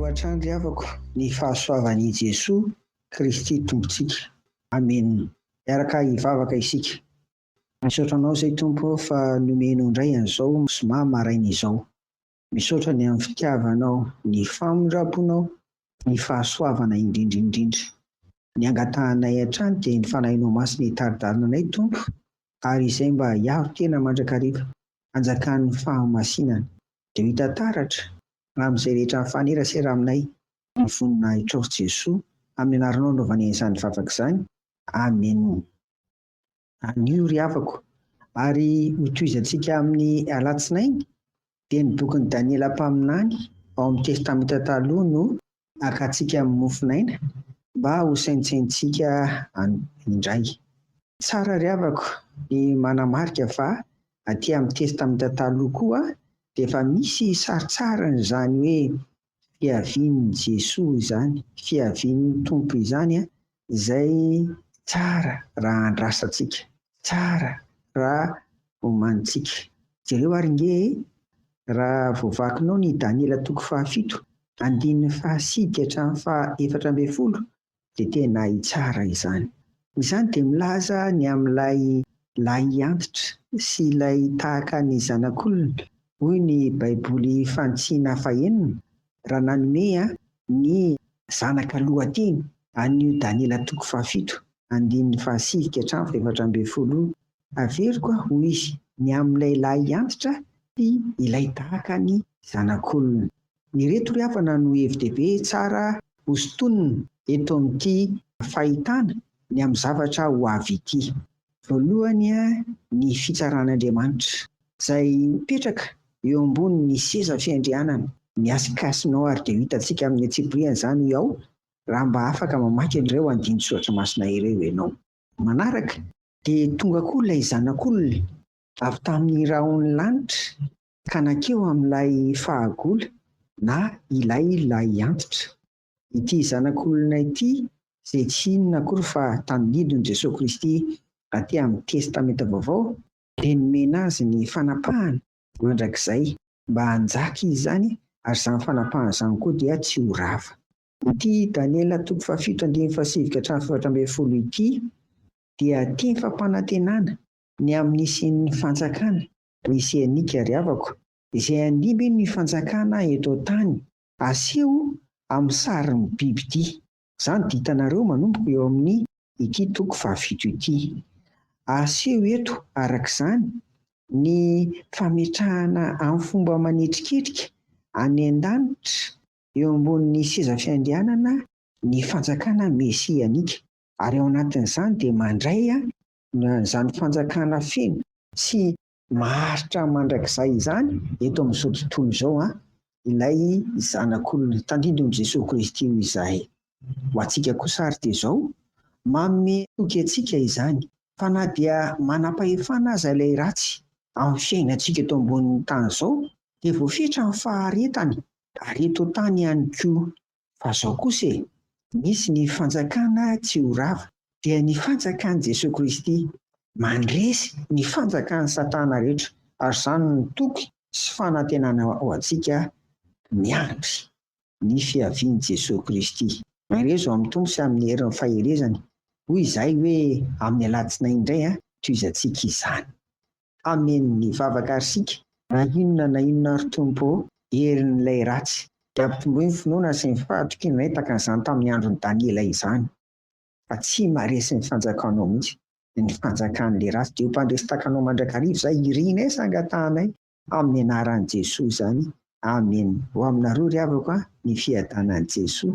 hatrany ry havako ny fahasoavan'i Jesoa Kristy Tompontsika. Amen. Miaraka hivavaka isika. Misaotra Anao izay Tompo fa nomenao indray an'izao zoma maraina izao. Misaotra ny amin'ny fitiavanao ny famindraponao ny fahasoavana indrindra indrindra. Ny angatahanay hatrany dia ny Fanahinao Masina hitari-dalana anay Tompo ary izay mba hiaro tena mandrakariva hanjakan'ny fahamasinana dia ho hita taratra amin'izay rehetra mifanerasera aminay ny voninahitrao Jesoa amin'ny anaranao anaovanay izany vavaka izany Amen. Anio ry havako, ary hotohizantsika amin'ny Alatsinainy, dia ny bokin'i Daniela mpaminany ao amin'ny Testamenta Taloha no hakantsika amin'ny mofonaina mba hosaintsaintsika indray. Tsara ry havako ny manamarika fa aty amin'ny Testamenta Taloha koa dia efa misy saritsarin'izany hoe fiavian'i Jesoa izany, fiavian'ny Tompo izany izay tsara raha andrasantsika, tsara raha omanintsika. Jereo ary nge e! Raha vao vakinao ny Daniela toko fahafito, andininy fahasy ka hatramin'ny faha efatra ambin'ny folo, dia tena hitsara izany. Izany dia milaza ny amin'ilay lahiantitra sy ilay tahaka ny zanak'olona, hoy ny Baiboly Fantsina Fahenina, raha nanome ny zanaka lohateny an'io Daniela toko fahafito, andininy fahasivy ka hatramin'ny fahefatra ambin'ny folo io, Averiko aho, hoy izy, ny amin'ilay lahiantitra sy ilay tahaka ny zanak'olona. Ireto ry havana no hevi-dehibe tsara hosintonina eto amin'ity fahitana ny amin'ny zavatra ho avy ity. Voalohany, ny fitsaran'Andriamanitra, izay mipetraka eo ambonin'ny seza fiandrianana. Ny asikasinao ary dia ho hitantsika amin'ny antsipirihany izany hoy aho raha mba afaka mamaky an'ireo andinin-tsoratra masina ireo ianao. Manaraka, dia tonga koa ilay Zanak'olona avy tamin'ny rahon'ny lanitra ka nankeo amin'ilay fahagola na ilay lahiantitra. Ity Zanak'olona ity, izay tsy inona akory fa tandindon'i Jesoa Kristy aty amin'ny Testamenta Vaovao, dia nomena azy ny fanapahana mandrakizay mba hanjaka izy izany ary izany fanapahana izany koa dia tsy ho rava. Ity Daniela toko fahafito andininy fahasivy ka hatramin'ny fahefatra ambin'ny folo ity dia tim-fampanantenana ny amin'ny hisian'ny Fanjakana Mesianika ry havako, izay handimby ny fanjakana eto an-tany, aseho amin'ny sarin'ny biby ity. Izany dia hitanareo manomboka eo amin' ity toko fahafito ity. Aseho eto, araka izany, ny fametrahana amin'ny fomba manetriketrika any an-danitra eo ambonin'ny seza fiandrianana ny fanjakana mesianika, ary ao anatin'izany dia mandray Na izany fanjakana feno sy maharitra mandrakizay izany eto amin'izao tontolo izao an, ilay Zanak'olona tandindon'i Jesoa Kristy hoy izahay. Ho antsika kosa ary dia izao, manome toky antsika izany fa na dia manam-pahefana aza ilay ratsy amin'ny fiainantsika eto ambonin'ny tany izao dia voafetra ny faharetany ary eto an-tany ihany koa. Fa zao kosa e, misy ny fanjakana tsy ho rava, dia ny fanjakan'i Jesoa Kristy, mandresy ny fanjakan'i Satana rehetra, ary izany no toky sy fanantenana ho antsika miandry ny fiavian'i Jesoa Kristy. Maherezo amin'ny Tompo sy amin'ny herin'ny faherezany, hoy izahay hoe amin'ny alatsinainy indray an, tohizantsika izany. Amen ny vavaka ary sika na inona na inona ary Tompo ô herin'ilay ratsy dia ampitomboy ny finoana sy ny fahatokiana anay tahaka an'izany tamin'ny andron'i Daniela izany fa tsy maharesy ny fanjakanao mihitsy ny fanjakan'ilay ratsy dia ho mpandresy tahaka anao mandrakariva izay irinay sy angatahanay amin'ny anaran'i Jesoa izany Amen ho aminareo ry havako a ny fiadanan'i Jesoa